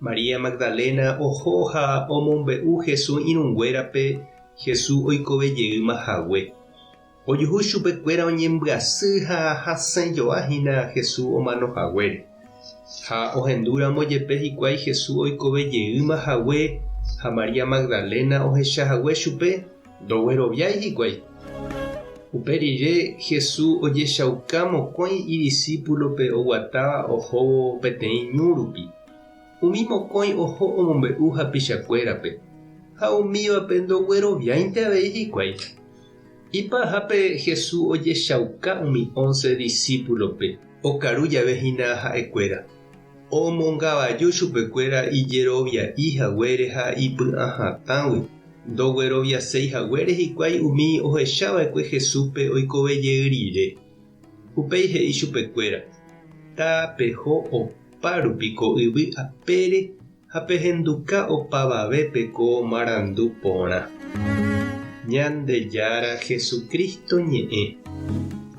María Magdalena oho ha omombe'u Jesús irũnguérape Jesús oikove jeýma hague. Ojuhu chupe kuéra oñembyasy ha hasẽjoa hína Jesús omano haguére. Ha ohendu ramo jepe hikuái Jesús oikove jeýma hague ha María Magdalena ohecha hague chupe, Ndogueroviái hikuái. Upe rire Hesu ojechauka mokõi idisípulope oguatáva ohóvo peteĩ ñu rupi. Umi mokõi oho omombe'u hapichakuérape, ha umívape ndogueroviáinte avei hikuái. Ipahápe Hesu ojechauka umi ónce disípulope, okaru jave hína ha'ekuéra. Omongavaju chupekuéra ijerovia'i haguére ha ipy'ã hatãgui, ndogueroviaséi haguére hikuái umi ohechava'ekue Jesúspe oikove jey rire. Upéi he'i chupekuéra, Tapeho opa rupi ko yvy apére Ha pehenduka opavavépe ko marandu porã, Ñandejára Jesucristo ñe'ẽ,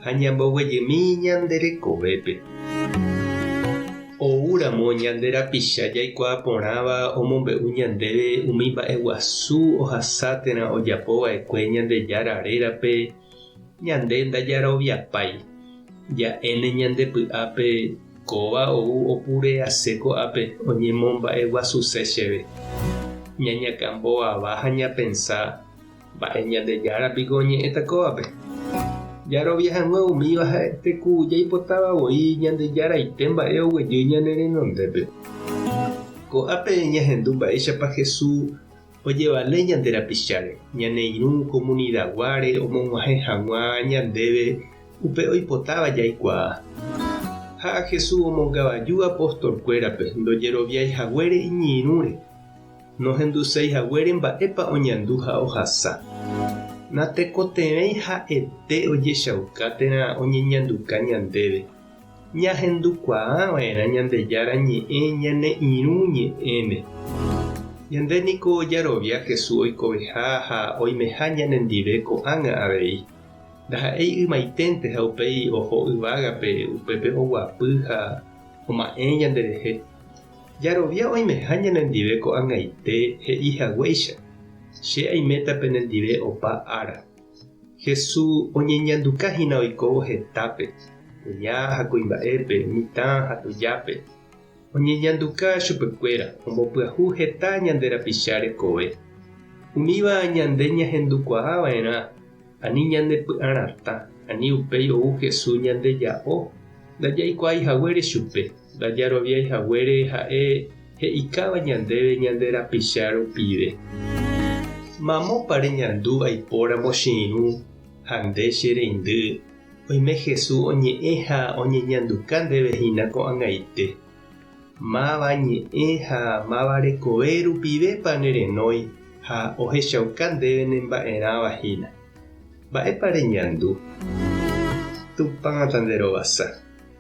ha ñamboguejymi ñande rekovépe. Oúramo ñande rapicha jaikuaa porãva omombe'u ñandéve umi mba'eguasu ohasa térã ojapova'ekue Ñandejára rérape, Ñande ndajaroviapái. Ja'éne ñande py'ápe kóva ou opure ase ko'ápe oñemomba'eguasuse chéve. Ñañakã mbovava ha ñapensa, Mba'e Ñandejára piko oñe'ẽta kóvape? Jarovia hag̃ua umíva ha'ete ku jaipotáva voi Ñandejaraite mba'e oguejy ñane renondépe. Ko'ápe ñahendu mba'éichapa Jesús ojevale ñande rapicháre, ñane irũ komunidaguáre omog̃uahẽ hag̃ua ñandéve upe oipotáva jaikuaa. Ha a Jesús omongavaju apostolkuérape ndojeroviái haguére iñirũre, nohenduséi haguére mba'épa oñandu ha ohasa. Natekotevẽi ha'ete ojechauka térã oñeñanduka ñandéve. Ñahendukuaava'erã Ñandejára Ñe'ẽ ñane irũ ñe'ẽme. Ñande niko jarovia Jesús oikoveha ha oimeha ñanendive ko'ág̃a avei. Ndaha'éi ymaiténte ha upéi oho yvágape upépe oguapy ha oma'ẽ ñanderehe. Jarovia oimeha ñanendive ko'ag̃aite he'i haguéicha, Che aiméta penendive opa ára. Hesu oñeñanduka hína oikóvo hetápe, kuña ha kuimba'épe, mitã ha tujápe. Oñeñanduka chupekuéra, ombopyahu heta ñande rapicha rekove. Umíva ñande ñahendukuaa va'erã ani ñanepy'ã ratã ani upéi ou Hesu ñande ja'o ndajaikuaaihaguére chupe. Ndajaroviái haguére ha'e he'ikáva ñandéve ñande rapicha rupive. Mamópa reñandu aipóramo che irũ ha nde che reindy, oime Jesús oñe'ẽ ha oñeñanduka ndéve hína ko'ag̃aite. Máva ñe'ẽ ha máva rekove rupivépa nerenói ha ohechauka ndéve ne mba'erãva hína? Mba'épa reñandu? Tupã tanderovasa.